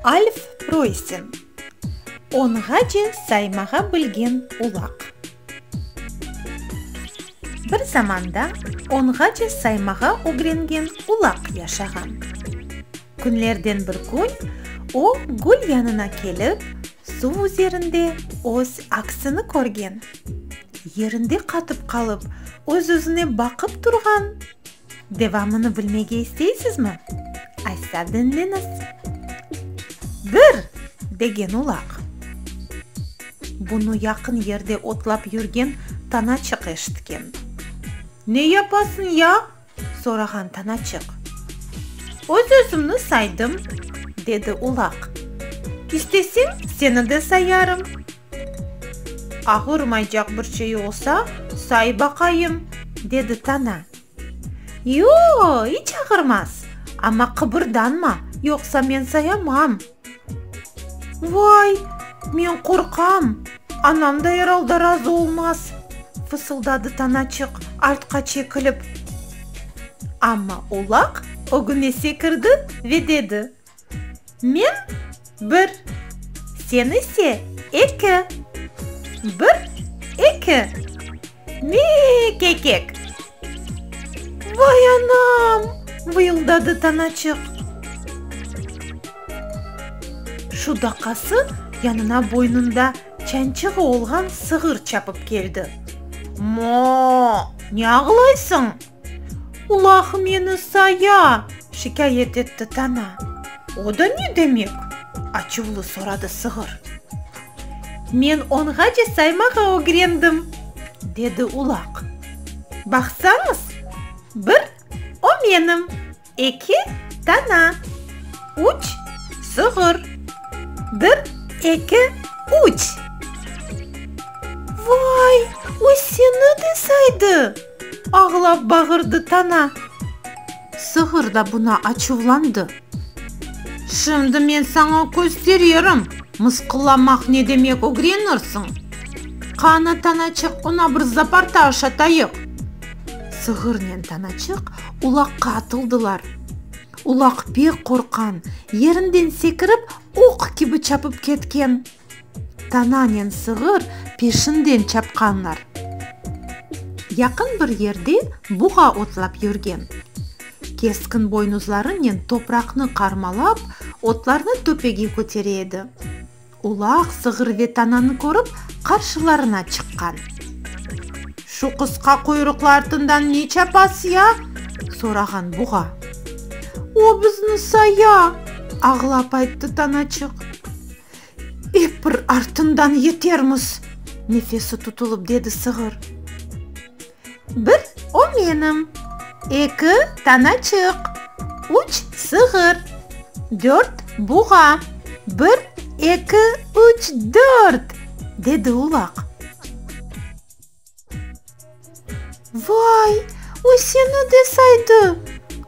Alf Preussen, Onğace saymağa bilgen ulaq. Bir zamanda onğace saymağa ögrengen ulaq yaşağan. Künlerden bir kün o gül yanına kelip, suv üzerinde öz aksini körgen. Yerinde qatıp qalıp, öz-özüne baqıp turğan. Devamını bilmege isteysizmi? Aytsa diñleñiz. Bir! degen ulaq. Bunı yaqın yerde otlap yürgen Tanaçıq eşitken. Ne yapasıñ ya? sorağan Tanaçıq. Öz-özümni saydım, dedi ulaq. İstesiñ, seni de sayarım. Ağırmaycaq bir şey olsa, say baqayım, dedi Tana. Yo, iç ağırmaz, amma qıbırdanma, yoqsa men sayamam. Vay, men qorqam, anam da er alda razı olmaz, fısıldadı Tanaçıq artqa çekilip. Amma Ulaq ögüne sekirdi ve dedi. Men, bir, sen ise, eki. Bir, eki. Me-e-e-kekek! Vay anam! vıyıldadı Tanaçıq. Şu daqası yanına boynunda çançığı olğan sığır çapıp keldi. Mo-o-o! Ne ağlaysıñ? Ulaq meni saya! şikâyet etti Tana. O da ne demek? açuvlı soradı Sığır. Men onğace saymağa ögrendim, dedi Ulaq. Baqsañız, bir, o menim, Eki dana, üç sığır. Bir, eki, üç. Vay, o seni de saydı! ağlap bağırdı dana. Sığır da buna açuvlandı. Şimdi men saña köstererim, mısqıllamaq ne demek, ögrenirsiñ. Qanı, danaçıq, oña bir zaparta aşatayıq. Sığırnen tanaçıq ulaqqa atıldılar. Ulaq pek qorqqan, yerinden sekirip, oq kibi çapıp ketken. Tananen sığır peşinden çapqanlar. Yaqın bir yerde buğa ottlap yürgen. Keskin boynuzlarınen topraqnı qarmalap, otlarnı töpege kötere edi. Ulaq, sığır ve tananı körip, qarşılarına çıqqan. Şu qısqa quyruqlı artından ne çapasız ya? sorağan buğa. O bizni saya! ağlap ayttı tanaçıq. Ep bir artından yetermiz! nefesi tutulıp dedi sığır. Bir, o menim. Eki, tanaçıq. Üç, sığır. Dört, buğa. Bir, eki, üç, dört! dedi ulaq. Vay, o seni de saydı!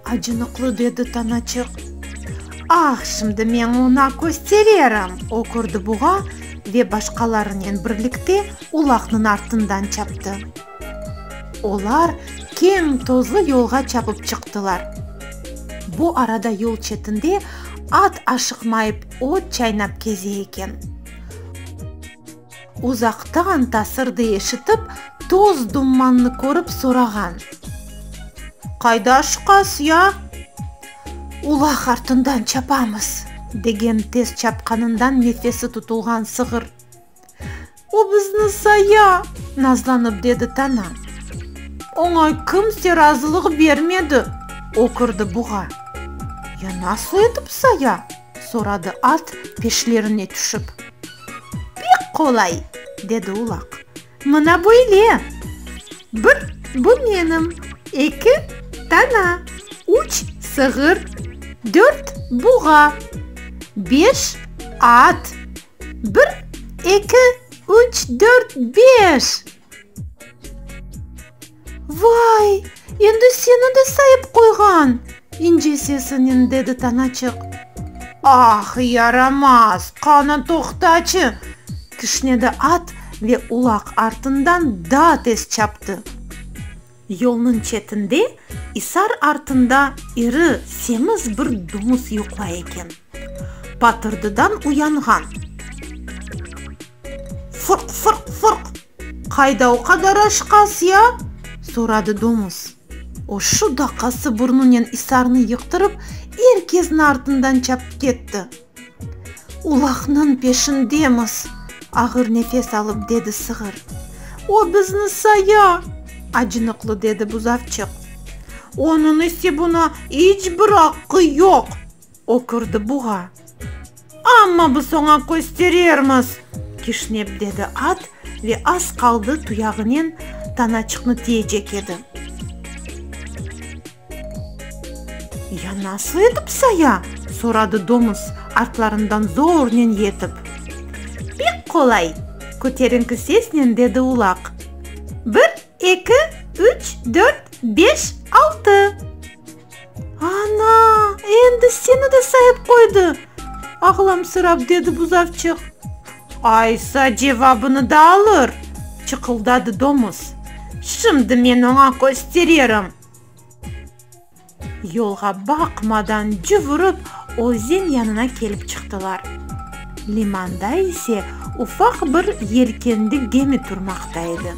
acınıqlı dedi tanaçıq. Ah, şimdi men oña köstererim! okurdı buğa ve başqalarınen birlikte ulaqnıñ artından çaptı. Olar keñ tozlı yolğa çapıp çıqtılar. Bu arada yol çetinde at aşıqmayıp ot çaynap keze eken. Uzaqtan tasırdı eşitip, toz-dummannı körip sorağan. Qayda aşıqas ya? Ulaq artından çapamız, degen tez çapqanından nefesi tutulğan sığır. O bizni saya! nazlanıp dedi Tana. Oña kimse razılıq bermedi! ökürdi Buğa. Ya nasıl etip saya? soradı at, peşlerine tüşip. Pek qolay! dedi Ulaq. Mına böyle! Bir, bu menim, eki, Tana, üç, sığır, dört, Buğa, beş, at, Bir, eki, üç, dört, beş! Vay, endi seni de sayıp qoyğan! ince sesinen dedi Tanaçıq. Ah, yaramaz, qanı toqtacı! kişnedi at ve ulaq artından daa tez çaptı. Yolnıñ çetinde, isar artında iri, semiz bir dumuz yuqlay eken. Patırdıdan uyanğan. Fırq, fırq, fırq! Qayda o qadar aşqas, ya? soradı domuz. O şu daqası burnunen isarnı yıqtırıp, er kesni artından çapıp ketti. Ulaqnıñ peşindemiz! ağır nefes alıp dedi sığır. O bizni saya! acınıqlı dedi buzavçıq. Onıñ ise buna iç bir aqqı yoq! ökürdi buğa. Amma biz oña kösterermiz! kişnep dedi at ve az qaldı tuyağınen tanaçıqnı tiyecek edi. Ya nasıl etip saya? soradı domuz, artlarından zornen yetip. Pek qolay! köterinki sesnen dedi ulaq. Bir, eki, üç, dört, beş, altı! Ana, endi seni de sayıp qoydı! ağlamsırap dedi buzavçıq. Aysa, cevabını da alır! çıqıldadı domuz. Şimdi men oña köstererim! Yolğa baqmadan cüv urıp, özen yanına kelip çıqtılar. Limanda ise ufaq bir yelkenli gemi turmaqta edi.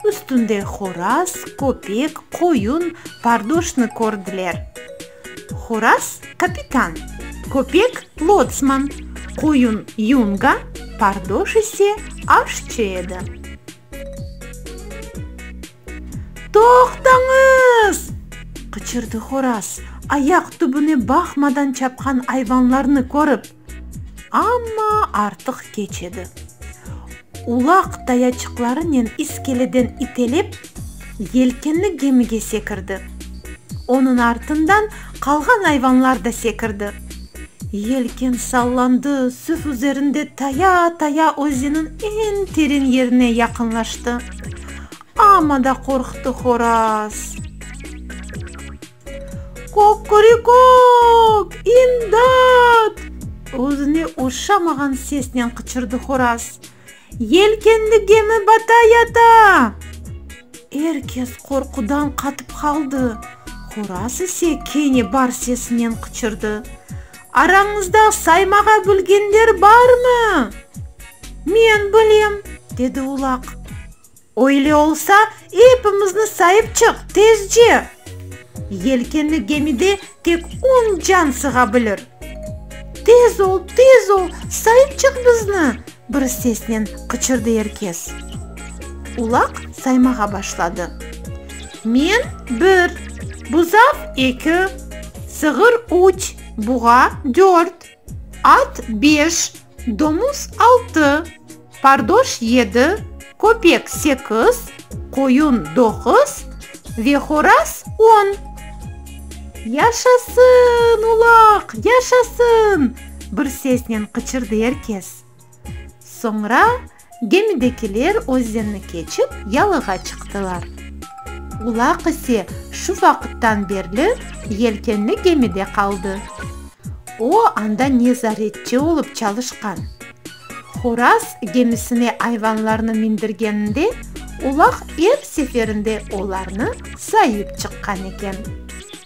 Üstünde horaz, köpek, qoyun, pardoşnı kördiler. Horaz, kapitan, köpek, lotsman, qoyun, yunga, pardoş ise aşçı edi. Toqtañız! qıçırdı Horaz, ayaq tübüne baqmadan çapqan ayvanlarnı körip. Amma artıq keç edi. Ulaq tayaçıqlarınen iskeleden itelep, yelkenli gemige sekirdi. Onıñ artından qalğan ayvanlar da sekirdi. Yelken sallandı, süf üzerinde taya-taya özeniñ eñ teren yerine yaqınlaştı. Amma da qorqtı horaz. Kok-körikok! İmdat! özüne oşamağan sesnen qıçırdı horaz. Yelkenli gemi bata yata! Er kes qorqudan qatıp qaldı, Horaz ise kene bar sesinen qıçırdı, Arañızda saymağa bilgenler barmı? Men bilem, dedi Ulaq. Öyle olsa, epimizni sayıp çıq, tezce! Yelkenli gemide tek on can sığa bilir. Tez ol, tez ol, sayıp çıq bizni! bir sesnen qıçırdı er kes. Ulaq saymağa başladı. Men, bir, buzav, eki, sığır, üç, buğa, dört, at, beş, Domuz altı, pardoş yedi, köpek sekiz, qoyun doquz ve horaz on. Yaşasın, ulaq, yaşasın! bir sesnen qıçırdı er kes. Soñra Gemidekiler özenni keçip, yalığa çıqtılar. Ulaq ise şu vaqıttan berli yelkenli gemide qaldı. O, anda nezaretçi olıp çalışqan. Horaz gemisine ayvanlarnı mindirgeninde, ulaq er seferinde olarnı sayıp çıqqan eken.